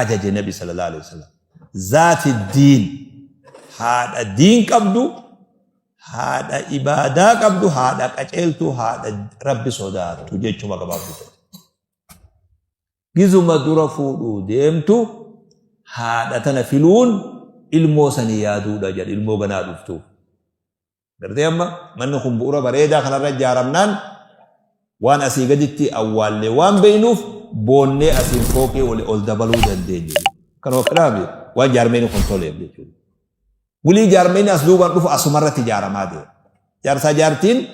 ajaje nabi sallallahu alaihi wasallam zaati diin haadha diin qabdu haadha ibaadaa qabdu haadha qaceeltuu haadha rabbi sodaattu jechuma gabaabdu ta'e gizuma dura fuudhuu deemtu haadha tana filuun ilmoo sanii yaaduudha jedhe ilmoo ganaa dhuftu Gartee amma manni kun bu'uura bareedaa kanarra ijaaramnaan waan asii gaditti awwaallee waan beeknuuf boonnee asiin fooqii oli ol dabaluu dandeenyu. Kan ofiidhaafi waan jaarmeenii kun toleef jechuudha. Wulii jaarmeenii as duubaan dhufu asumarratti ijaaramaa deema. Jaarsaa jaartiin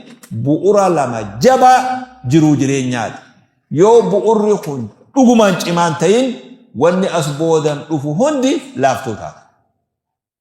bu'uura lama jabaa jiruu jireenyaati. Yoo bu'uurri kun dhugumaan cimaan ta'in wanni as boodan dhufu hundi laaftuu taata.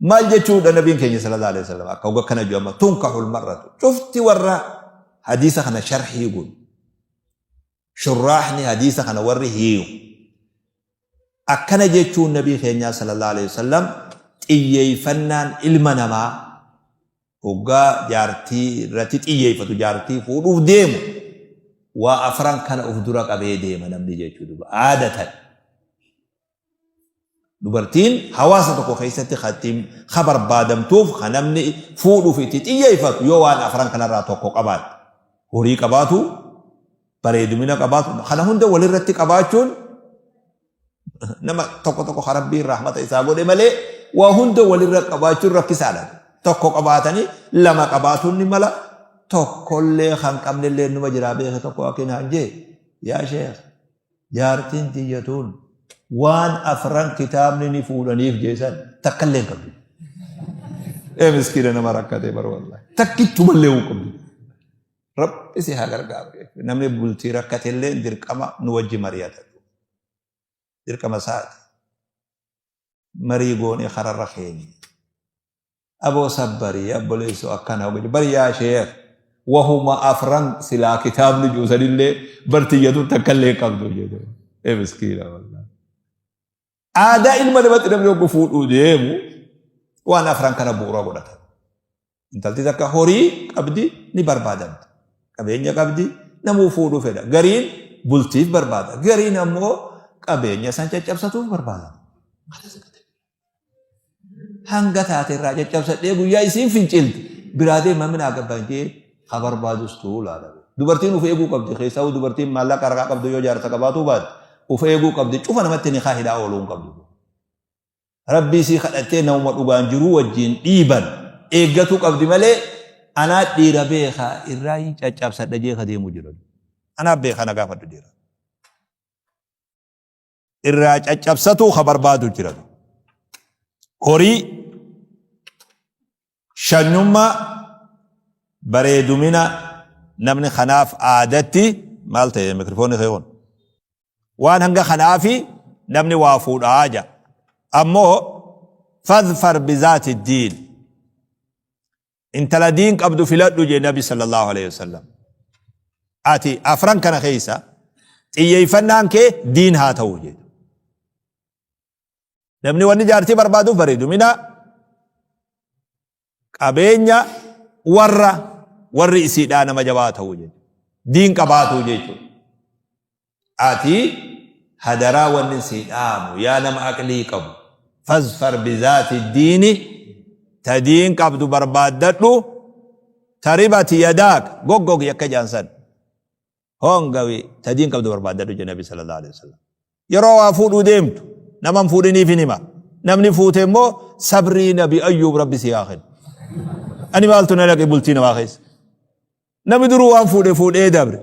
maal jechuudha nabiin keenya sallallahu alaihi wasallam akka hoga kana jama tunkahul marratu cufti warra hadiisa kana sharhii gun shurraahni hadiisa kana warri hiiyu akkana jechuun nabii keenyaa sallallahu alaihi wasallam xiyyeeffannaan ilma namaa hoggaa jaartii irratti xiyyeeffatu jaartii fuudhuuf deemu waa afran kana of dura qabee deema namni jechuu duba aadatan Dubartiin hawaasa tokko keessatti kan ittiin kan barbaadamtuuf kan namni fuudhuuf itti xiyyeeffatu yoo waan afran kanarraa tokko qabaatte. Horii qabaatu, bareedumina qabaatu, kana hunda walirratti qabaachuun nama tokko tokko kan rabbiin rahmata isaa godhe malee waa hunda walirra qabaachuun rakkisaadha. Tokko qabaatanii lama qabaatuun ni mala tokkollee kan qabnellee numa jiraa beeka tokko akkin hanjee yaa sheekh Jaartiin tiyya tuun waan afran kitaabni ni fuudhaniif jeesan takka illee hin qabdu. Ee miskiina nama rakkatee bara wallahi. Takkichuma illee hin qabdu. Rabbi si haa gargaaru. Namni bultii rakkate illee dirqama nu wajji mari'ata. Dirqama isaati. Marii goonee kararra keenya. Aboo sabbarii abboleessoo akkana hogani bari yaa sheekh wahuma afran silaa kitaabni juusanillee bartiyyatu takkallee hin qabdu jedhe. Ee miskiina wallah. Aadaa ilma namatti namni oggu fuudhuu deemu waan afran kana bu'uura godhata. Intalti takka horii qabdi ni barbaadamti. Qabeenya qabdi namuu fuudhuu fedha. Gariin bultiif barbaada. Gariin ammoo qabeenya san caccabsatuuf barbaada. Maal isa gata? hanga taate irraa caccabsadhee guyyaa isiin fincilte biraa deemaa minaa gabbaan jee ha barbaadus tu'uu laala. Dubartiin uf eeguu qabdi keessaa dubartiin maallaqa harkaa qabdu yoo jaarsa qabaatuu baate uf eeguu qabdi cufa namatti ni kaahidhaa ooluu hin qabdu. Rabbii sii kadhattee namuma dhugaan jiruu wajjin dhiiban eeggatuu qabdi malee anaa dhiira beekaa irraa hin caccabsadha jee ka deemuu jiran. Anaa beekaa na gaafadhu dhiira. irraa caccabsatuu ka barbaadu jira horii shanyummaa bareedumina namni kanaaf aadatti maal ta'e mikrofoonni kee kun waan hanga kanaafi namni waa fuudhaa ja ammoo fadfar bizaati diin intala diin qabdu filadhu jee nabi sallallahu alaihi wasallam ati afran kana keessa xiyyeeffannaan kee diin haa ta'u jee namni wanni jaartii barbaaduuf bareedu mina qabeenya warra warri isiidhaa nama jabaa ta'u jee diin qabaatuu jechuudha Ati hadaraa wannin sii dhaamu yaa nama aqlii qabu fazfar bizaati diini ta diin qabdu barbaaddadhu ta ribati yadaak goggogi akka jaan san hongawi ta diin qabdu barbaaddadhu je nabi sallallahu alaihi wasallam yeroo waa fuudhuu deemtu naman fuudhiniif hin hima namni fuute immoo sabrii nabi ayyuub rabbi si haa kennu ani maaltu na dhaqe bultii namaa keessa Namni duruu waan fuudhe fuudhee dabre.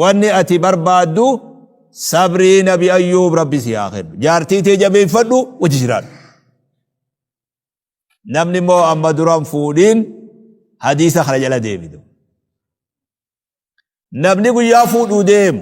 Wanni ati barbaaddu sabrii nabi ayyuub rabbi si haa kennu. Jaartii tee jabeeffadhu wajji jiraadhu. Namni immoo amma duraan fuudhiin hadiisa kana jala deebidu. Namni guyyaa fuudhuu deemu.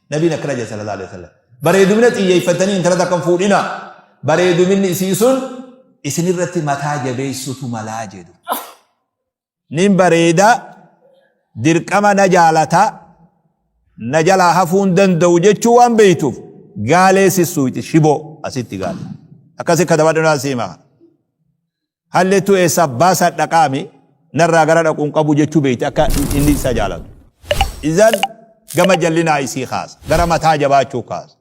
Nabiin akkana jedhe sallallahu alaihi wasallam. Bareedumina xiyyeeffatanii intala takka hin fuudhina. Bareeduminni isii sun isinirratti mataa jabeessutu malaa jedhu. Nin bareeda dirqama na jaalata na jalaa hafuun danda'u jechuu waan beektuuf gaalee sissuuti shiboo asitti gaale. Akkasi katabadhu naa siima. Hallettuu eessaa baasaa dhaqaami narraa gara dhaquu hin qabu jechuu beekti akka inni isa jaalatu. Izan gama jallinaa isii kaasa. Gara mataa jabaachuu kaasa.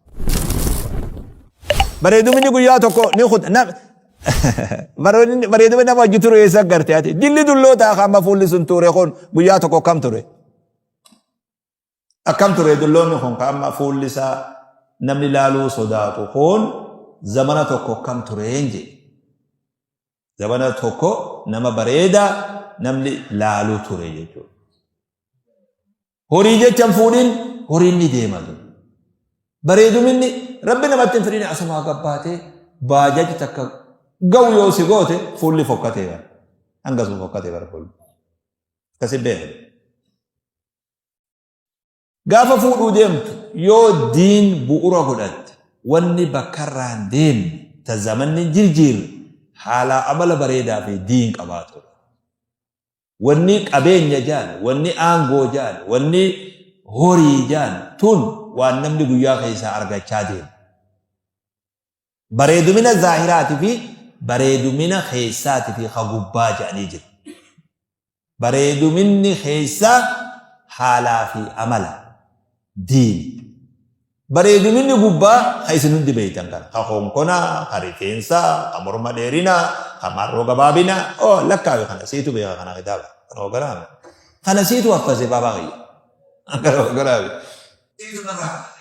Bareedumni guyyaa tokko ni kuta. Nam- Bareedumni bareedumni nama hojii ture eessa garte ati? Dilli dullootaa kan amma fuulli sun ture kun guyyaa tokko kam ture? Akkam ture dulloonni kun ka amma fuulli isaa namni laaluu sodaatu kun zamana tokko akkam tureen jedhe. Zamana tokko nama bareedaa namni laaluu ture jechuudha. Horii jechan fuudhin horiin ni deema ture. Bareeduminni rabbi namatti hin fidine asumaa gabbaatee baajaji takka gahu yoo si goote fuulli fokkatee bara. Hangasuma fokkatee bara fuulli. Akkasi beeku. Gaafa fuudhuu deemtu yoo diin bu'ura godhatte wanni bakkarraan deemne ta zamanni hin jirjiirre haalaa amala bareedaa fi diin qabaatudha. Wanni qabeenya jaan, wanni aangoo jaan, wanni horii jaan tun waan namni guyyaa keessaa argachaa deemu. Bareedumina zaahiraati fi bareedumina keessaati fi ka gubbaa jedhanii jiru. Bareeduminni keessaa haalaa fi amala diini. Bareeduminni gubbaa ka isin hundi beeytan kana. Ka konkonaa, ka rifeensaa, ka morma dheerinaa, ka marroo gabaabinaa. Oo lakkaawi kana siitu beeka kana kitaaba. Kana hoganaame. Kana siitu haffase baabaa kiyya. Kana hoganaame. Siitu kana haffase.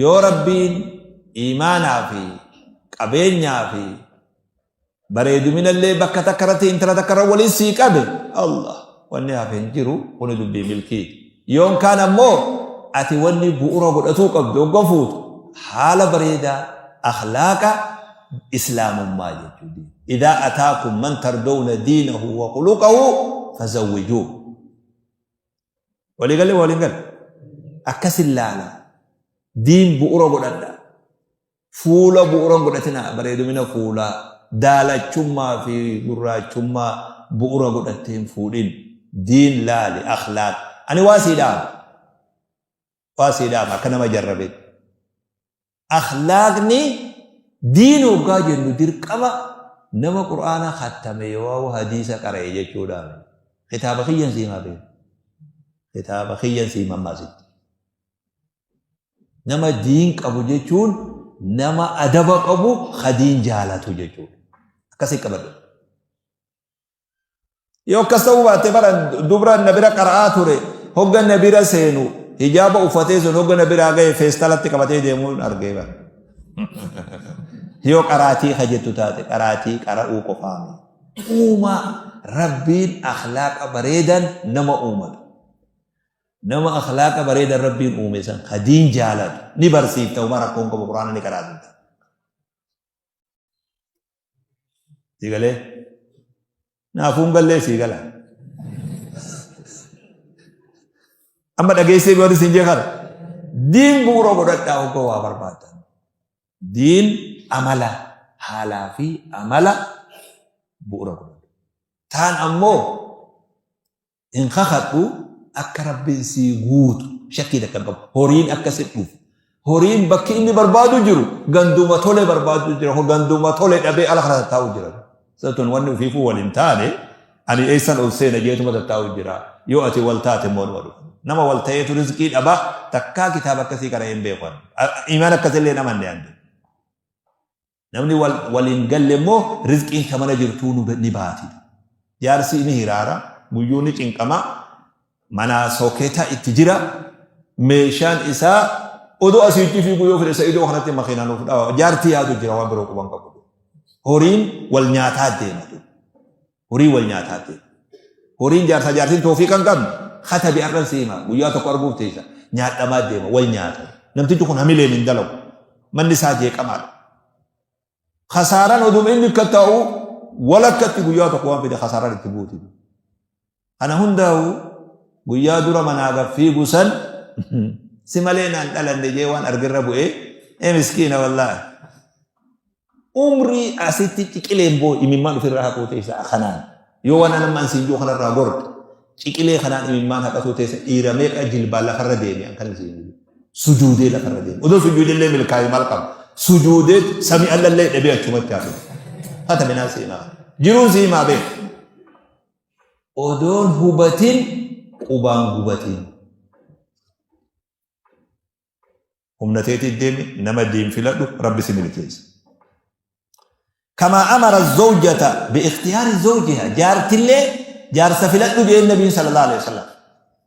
Yoo Rabbiin iimaanaa fi qabeenyaa fi bareeduminallee bakka takka irratti intala takka irra waliin sii qabe Allah wanni hafe hin jiru kuni dubbii milkii yoon kaan ammoo ati wanni bu'uura godhatuu qabdu ogga fuutu haala bareedaa akhlaaqa islaamummaa jechuudha. Idaa ataakum man tardowna diinahu wa khuluqahu fazawwijuu. Walii galle moo waliin galle? Akkas ilaala. Diin bu'ura godhadha. Fuula bu'uran godhatina bareedumina fuulaa daalachummaa fi gurraachummaa bu'ura godhattee hin fuudhin. Diin laali akhlaaq. Ani waa sii dhaama. Waa sii dhaama akka nama jarrabetti. Akhlaaqni diin hoggaa jennu dirqama nama qur'aana khattame yoo hadiisa qara'e jechuudha. Kitaaba kiyyan sii maa beeku. Kitaaba kiyyan sii mammaasitti. Nama diin qabu jechuun nama adaba qabu ka diin jaalatu jechuudha. Akkasii qabadhu. Yoo akkas ta'uu baate bara dubra na bira qara'aa ture hogga na bira seenu hijaaba uffatee sun hogga na biraa ga'e feestalatti qabatee deemuun argee bara. Yoo qaraatii ka jettu taate qaraatii qara'uu qofaame. Uumaa rabbiin akhlaaqa bareedan nama uumata. Nama akhlaaqa bareedan rabbiin uume san ka diin jaalatu ni barsiifta uma rakkoon qabu quraana ni qaraatu. sii galee naafuun gallee sii gala amma dhageessee biyyoota siin jee kana diin bu'uura godhadhaa oggoo waa barbaaddan diin amala haalaa fi amala bu'uura godhadha taan ammoo hin kakadhu akka rabbiin sii guutu shakkii takka hin qabu horiin akka si dhufu horiin bakki inni barbaadu jiru ganduma tole barbaadu jira ho ganduma tole dhabee ala kana taa'u jira satun wanni ufiifuu wal hin taane ani eessan ol seena jeetuma taa'u jira yoo ati wal taate immoo nama dhufu nama wal ta'eetu rizqii dhaba takkaa kitaaba akkasii kana hin beekan imaan akkasillee nama hin dee'an Namni wal wal hin galle immoo rizqiin ka mana jirtuu nu ni baati. Jaarsi ni hiraara, guyyuu ni cinqama, manaa sooketa itti jira, meeshaan isaa odoo asiitti fiiguu yoo fedhe sa'idoo kanatti makiinaa nuuf dhawa. Jaarti yaadu jira waan biroo quban qabu. Horiin wal nyaataa deema. Horii wal nyaataa ta'e. Horiin jaarsaa jaartiin toofiiqa hin qabne katabi arran si hima guyyaa tokko arguuf teessa nyaadhamaa deema wal nyaata. Namtichi kun hamileen hin dalagu. Manni isaa jeeqamaadha. Kasaaraan oduma inni akka ta'u walakkatti guyyaa tokko waan fide kasaaraan itti buuti. Kana hundaa'u guyyaa dura manaa gad fiigu san si malee naan dhalanne jee waan argirra bu'e ee miskiina wallaahi. Umrii asitti ciqileen boo imimmaan ofirraa haquu teessa kanaan yoo waan anammaan siin jiru kanarraa gorte ciqilee kanaan imimmaan haqatuu teessa dhiira meeqa jilbaan lafarra deeme an kan siin jiru. Sujuudee lafarra deeme. Odoo sujuudellee milkaa'e maal qaba? Sujuudee sami allallee dhabee achumatti hafe. Hata minaa siimaa. Jiruun siimaa beeku. odoon hubatin qubaan gubatiin. Humna teetiif deemi nama diin filadhu rabbi si milkeessa. Kamaa amara zawjata bi ikhtiyaari zawjiha jaartillee jaarsa filadhu jeen nabiin sallallahu alaihi wasallam.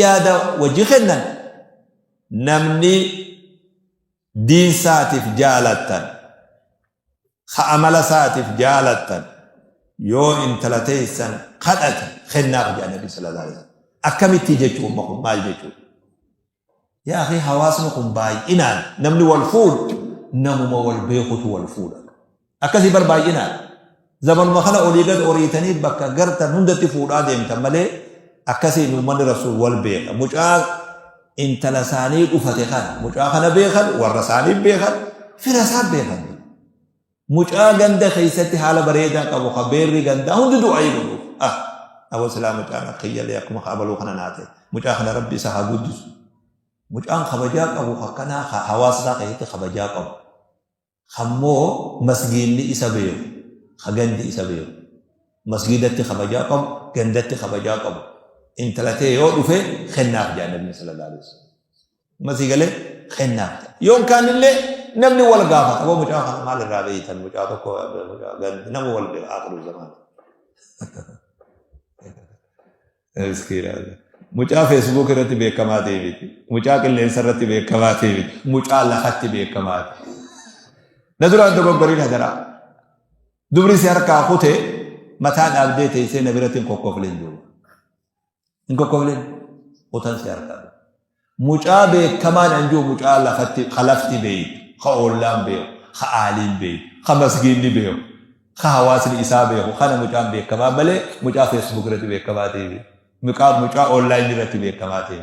yaada wajji kennan namni diin saatiif jaalattan ka amala saatiif jaalattan yoo intala teessan kadhate kennaaf jedha nabi sallallahu alaihi wasallam akkamittii jechuu umma kun maal jechuu Yaa akhii hawaasni kun baay'inaan namni wal fuudhu namuma wal beekutu wal fuudha. Akkasii bar baay'inaan zamanuma kana olii gad oriitanii bakka gartan hundatti fuudhaa deemtan malee akkasiin uummanni rasuul wal beeka. Mucaa intala isaanii dhufate kana mucaa kana beekan warra isaanii beekan fira isaan beekan. Mucaa ganda keessatti haala bareedaa qabu ka beerri gandaa hundi du'aayii godhuuf. Ah! Aboo silaa mucaan akka iyyalee akkuma ka abaluu kana naa ta'e. Mucaa kana rabbi isa haa guddisu. Mucaan kabajaa qabu akkanaa ka hawaasa isaa keessatti kabajaa qabu. Kammoo masgiinni isa beeku. Ka gandi isa beeku. Masgiidatti kabajaa qabu, gandatti kabajaa qabu. Intala ta'e yoo dhufe kennaaf jaa nabiyyi sallallahu alaihi wasallam. Masii galee kennaa. Yoon kaanillee namni wal gaafata. Boo mucaa kana maal irraa beeytan mucaa tokko nama wal aakiru zamaan. Mucaa feesbuuk irratti beekamaa ta'e miti. Mucaa qilleensa irratti beekamaa ta'e miti. Mucaa lafatti beekamaa ta'e. Na duraan dogoggoriin hadaraa. Dubri si harkaa kutee mataa dhaabdee teessee na biratti hin kokkofleen jiru. hin kokkofne utan si harkaa dhufe mucaa beekamaan an jiru mucaa lafatti ka lafti beeytu ka ollaan beeku ka aaliin beeku ka masgiinni beeku ka hawaasni isaa beeku kana mucaan beekamaa malee mucaa feesbuuk irratti beekamaa ta'e mucaa online irratti beekamaa ta'e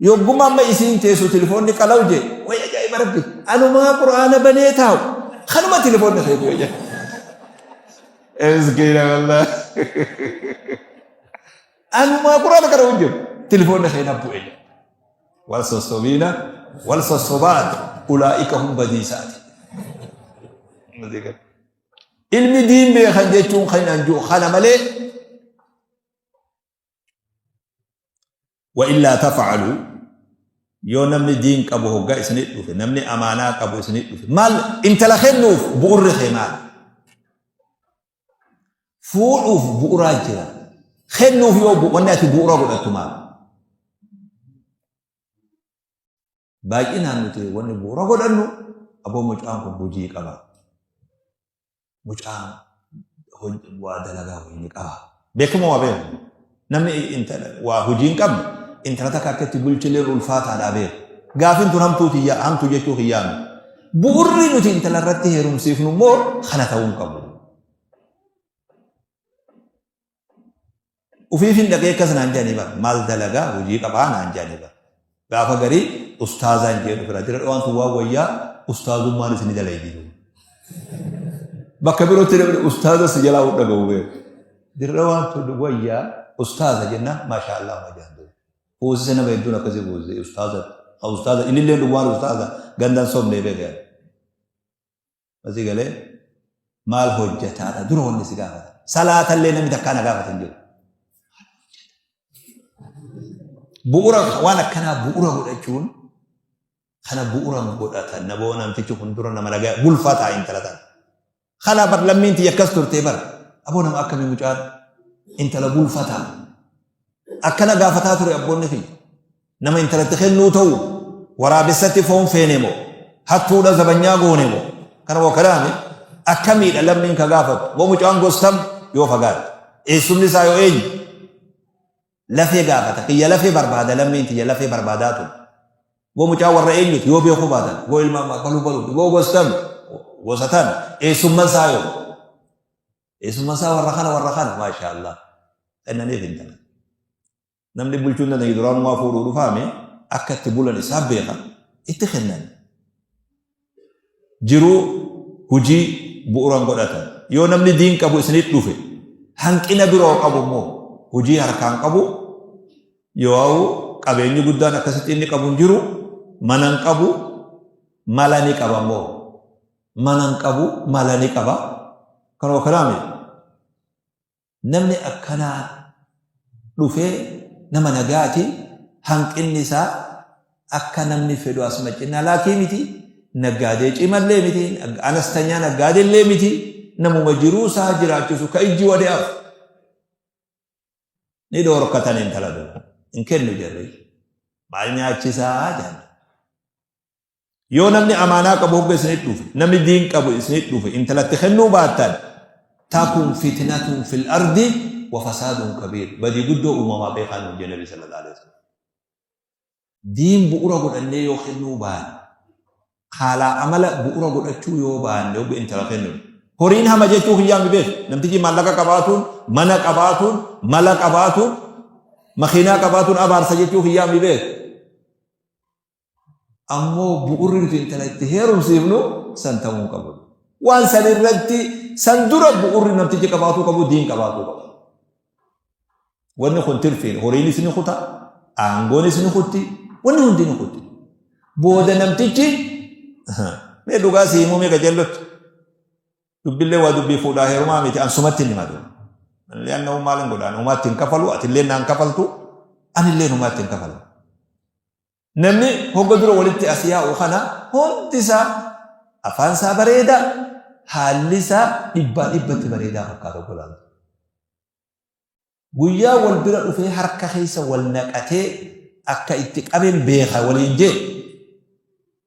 Yogguma amma isiin teessu tilifoonni qalaw jee way ajaa'iba rabbi anumaa qur'aana banee taa'u kanuma tilifoonni keetu yoo jedhe. Miskiina wallah. Anumaa qur'aana kana hojjetu tilifoonni keenya bu'e. Wal sossobiina wal sossobaat ulaa'ika hum badiisaati. Ilmi diin beekan jechuun kan anjuu kana malee wa illaa tafa'alu yoo namni diin qabu hoggaa isinit dhufe namni amaanaa qabu isinit dhufe maal intala kennuuf bu'urri kee maal fuudhuuf bu'uraa jira kennuuf yoo wanni ati bu'ura godhattu maal baay'inaan nuti wanni bu'uura godhannu aboo mucaan kun hojii qaba. Mucaan waa dalagaa wayii ni qaba. Beekama waa beeku. Namni waa hojii hin qabne intala takka akka itti bulchilee ulfaataadhaa beeku. Gaafiin tun hamtuu kiyyaa hamtuu jechuu kiyyaa miti. Bu'urri nuti intala irratti heerumsiifnu immoo kana ta'uu hin qabu. Ufiif hin dhaqee akkas naan jedhanii bar maal dalagaa hojii qabaa naan jedhanii bar. Gaafa garii ustaazaan jedhu bira dira dhawaan tun waan wayyaa ustaazummaan isin dalay jiru. Bakka birootti namni ustaaza si jalaa hunda gahu beeku. Dira dhawaan tun wayyaa ustaaza jenna maashaa Allah ma jaandu. Hoosisa nama hedduun akkasii goose ustaaza. Ustaaza inni illee dhugaan ustaaza gandaan sobnee beekan. Masii galee maal hojjetaadha dura wanni si gaafata. Salaatallee namni takkaa na gaafata hin jiru. Bu'uura waan akkanaa bu'uura godhachuun kana bu'uura godhatan na boo namtichi kun dura nama nagaa bulfataa intala tana. Kana bar lammiin tiyya akkas turtee bar aboo nama akkamii mucaan intala bulfataa akkana gaafataa ture abboonni tiyya. Nama intalatti kennuu ta'u waraabessatti foon feene moo hattuudha zabanyaa goone moo kana moo kanaami akkamiidha lammiin ka gaafatu moo mucaan gostam yoo fagaate eessumni isaa yoo eenyu lafee gaafata kiyya lafee barbaada lammiin kiyya lafee barbaadaa ture moo mucaa warra eenyuti yoo beekuu baatan moo ilmaan baluu baluu moo gostam gosatan eessumman isaa yoo eessumman isaa warra kana warra kana maashaallah kennaniif hin tanan Namni bulchuu hin dandeenye duraanumaa fuudhuu dhufaame akka itti bulan isaa beeka itti kennan. Jiruu hojii bu'uuraan godhatan. Yoo namni diin qabu isinitti dhufe hanqina biroo qabu immoo hojii harkaan qabu yoo qabeenyi guddaan akkasitti inni qabu hin jiru mana hin qabu mala ni qaba immoo mana hin qabu mala ni qaba kanoo kanaame Namni akkanaa dhufee nama nagaati hanqinni isaa akka namni fedhu as macinnaa laakii miti naggaadee cimallee miti anastanyaa naggaadee illee miti namuma jiruu isaa jiraachisu ka ijji wade'aaf ni dhoorkatan intala dura hin kennu jarri maal nyaachisaa jedhan Yoo namni amaanaa qabu hogga isinit dhufe, namni diin qabu isinit dhufe intalatti kennuu baattan takun fitnatun fil ardi wa fasaadun kabiir. Badii guddoo uumamaa beekaa nuun jee Nabii sallallahu alaihi wasallam. Diin bu'ura godhannee yoo kennuu baanne, haalaa amala bu'ura godhachuu yoo baanne hogga intala kennu. Horiin hama jechuu kiyyaa mi beeku? Namtichi maallaqa qabaatuun, mana qabaatuun, mala qabaatuun, makiinaa qabaatuun abaarsa jechuu kiyyaa mi beeku? Ammoo bu'urri nuti intala itti heerumsiifnu san ta'uu hin qabu. Waan san irratti san dura bu'urri namtichi qabaatuu qabu diin qabaatuu qabu. Wanni kun tirfiin horiinis ni kuta, aangoonis ni kutti, wanni hundi ni kutti. Booda namtichi mee dhugaa si himuu mee qajeellotti. Dubbillee waa dubbii fuudhaa heerumaa miti ansumatti hin himatu. Anillee anna uumaa lan godhaan uumaatti hin kafalu atillee naan kafaltu anillee uumaatti hin kafalu. Namni hogga dura walitti as yaa'u kana hundi isaa afaan isaa bareedaa, haalli isaa dhibbaa dhibbatti bareedaa fakkaata obbolaan. Guyyaa wal bira dhufee harka keessa wal naqatee akka itti qaben beeka waliin jee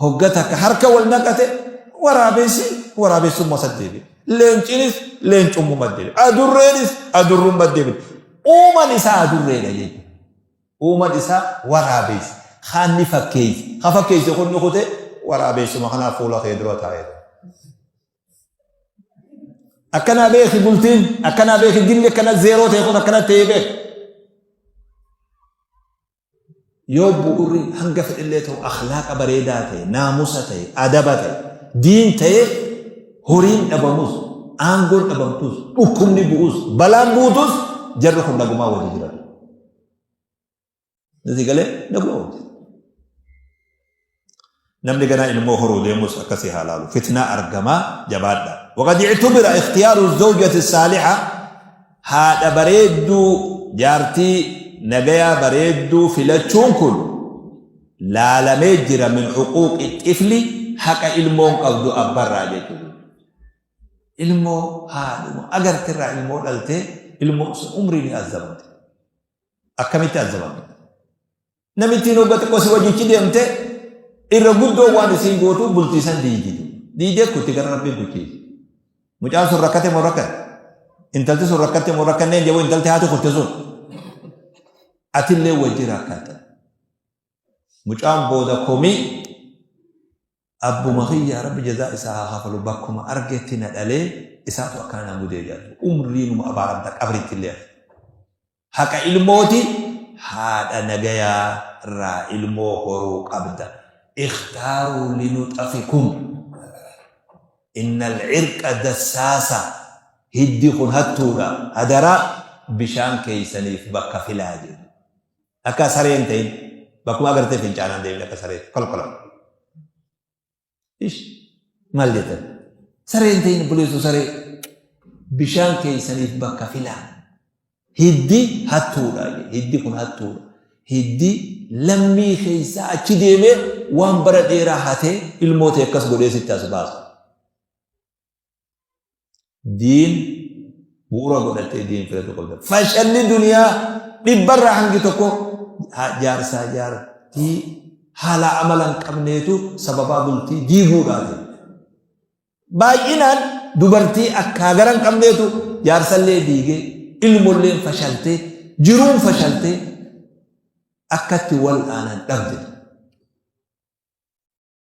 Hogga takka harka wal naqate waraabessi waraabessummaa sat deebi'e. Leencinis leencummummaa deebi'e. Adurreenis adurrummaa deebi'e. Uuman isaa adurreedha jechuudha. Uuman isaa waraabessi. Kaan ni fakkeessi. Haa fakkeessi kun ni kute waraabessuma kanaaf fuula kee dura taa'eera. Akkanaa beeki bultiin akkanaa beeki dilli akkana zeeroo ta'e kun akkana ta'ee beeki. Yoo bu'urri hanga fedhillee ta'u akhlaaqa bareedaa ta'e, naamusa ta'e, adaba ta'e, diin ta'e horiin dhabamus, aangoon dhabamtus, dhukkubni bu'us, balaan buutus jarri kun nagumaa wajji jiratu. Nasi galee nagumaa wajji. namni ganaa ilmoo horuu deemus akkasii haa laalu fitnaa argamaa jabaadha waqad ictubira ikhtiyaaru zawjati saaliha haadha bareedduu jaartii nagayaa bareedduu filachuun kun laalamee jira min huquuqi xifli haqa ilmoon qabdu abbarraa jechuudha ilmoo haadhuma agartirraa ilmoo dhaltee ilmoo sun umrii ni azzabamte akkamitti azzabamte Namittiin hogga xiqqoo si wajjichi deemte irra guddoo waan isiin gootu bultiisan diidi. Diidee kutti gara rabbiin kuchiise. Mucaan sun rakkate moo rakkan? Intalti sun rakkatte moo rakkanneen jedhu intalti haati kutte sun. Atillee wajji rakkatta. Mucaan booda komii abbuma kiyyaa rabbi jazaa isaa haa kafalu bakkuma argetti na dhalee isaatu akkanaan gudee jedhu umriinuma abaaramta qabriitti illee. Haqa ilmooti haadha nagayaa irraa ilmoo horuu qabda. Ikhtaaruu linuxafikum. Innal irqa dassaasa. Hiddi kun hattuudha. Hadaraa bishaan keeysaniif bakka filaa jedhu. Akka sareen ta'in bakkuma agartee fincaanaan deemin akka saree kolkolan. Ish maal jettan? Saree hin ta'in buleessu saree. Bishaan keessaniif bakka filaa. Hiddi hattuudha. Hiddi kun hattuudha. Hiddi lammii keessaa achi deemee waan bara dheeraa hatee ilmoo ta'e akkas godhee sitti as baasu. diin bu'uura godhattee diin filatu qabda. Fashalli duniyaa dhibbarraa hangi tokko jaarsaa jaartii haala amala hin qabneetu sababaa bultii diiguudhaati. Baay'inaan dubartii akkaa gara hin qabneetu jaarsallee diigee ilmolleen fashaltee jiruun fashaltee akkatti wal aanan dhabde.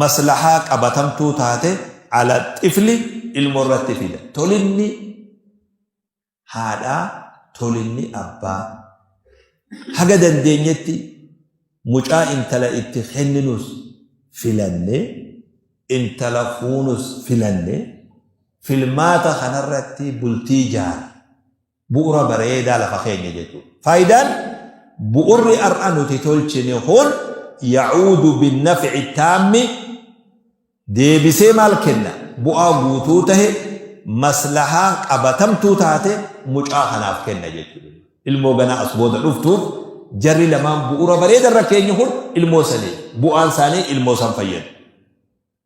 maslahaa qabatamtuu taate ala xifli ilmo irratti fida. Tolinni haadhaa, tolinni abbaa. Haga dandeenyetti mucaa intala itti kenninus filanne, intala fuunus filanne, filmaata kanarratti bultii jaara. Bu'ura bareedaa lafa keenya jechuudha. Faayidaan bu'urri har'a nuti tolchine kun yaa'uudu binnafici taammi deebisee maal kenna? Bu'aa guutuu tahe maslahaa qabatamtuu taate mucaa kanaaf kenna jechuudha. Ilmoo ganaa as booda dhuftuuf jarri lamaan bu'ura bareedarra keenya kun ilmoo sanii bu'aan isaanii ilmoo san fayyada.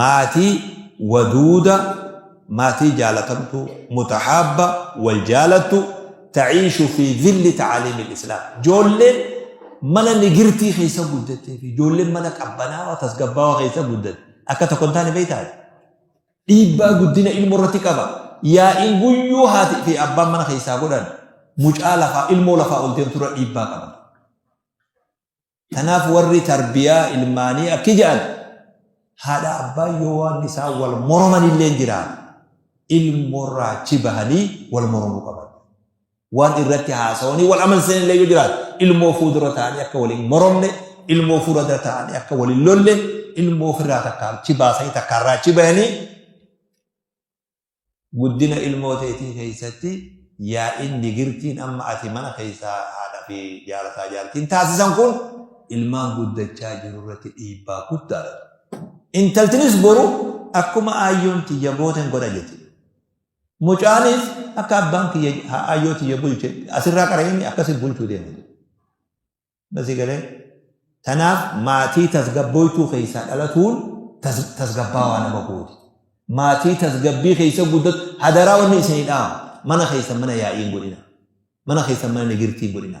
Maatii waduuda maatii jaalatamtuu mutahaabba wal jaalattu ta'iishu fi zilli ta'aaliimil islaam joolleen mana nigirtii keessa guddattee fi joolleen mana qabbanaawaa tasgabbaawaa keessa guddatte akka tokko hin taane beektaati dhiibbaa guddina ilmoo irratti qaba yaa'iin guyyuu haati fi abbaan mana keessaa godhan mucaa lafaa ilmoo lafaa ol deemturra dhiibbaa qaba Tanaaf warri tarbiyaa ilmaanii akki ja'an haadha abbaa yoo waan isaa wal moroman illee jira ilmoorraa achi bahanii wal moromuu qaban. Waan irratti haasawanii wal amansiisan illee yoo jiraatu ilmoo fuuldura ta'anii akka waliin moromne ilmoo fuuldura ta'anii akka waliin lolle ilmoo ofirraa takka achi baasanii takka irraa achi bahanii Guddina ilmoo teetii keessatti yaa'iin digirtiin amma ati mana keessaa haadha fi jaarsaa jaartiin taasisan kun ilmaan guddachaa jiru irratti dhiibbaa guddaa dha. Intaltinis boru akkuma aayyoon tiyya gooten godha jette. Mucaanis akka abbaan kiyya aayyoo tiyya bulche asirraa qara inni akkasi bulchuu deema. Basii galee tanaaf maatii tasgabbooytuu keessaa dhalatuun tasgabbaawaa nama gooti. Maatii tasgabbii keessa guddatu hadaraa wanni isinii dhaama. Mana keessan mana yaa'iin godhina. Mana keessan mana nigirtiin godhina.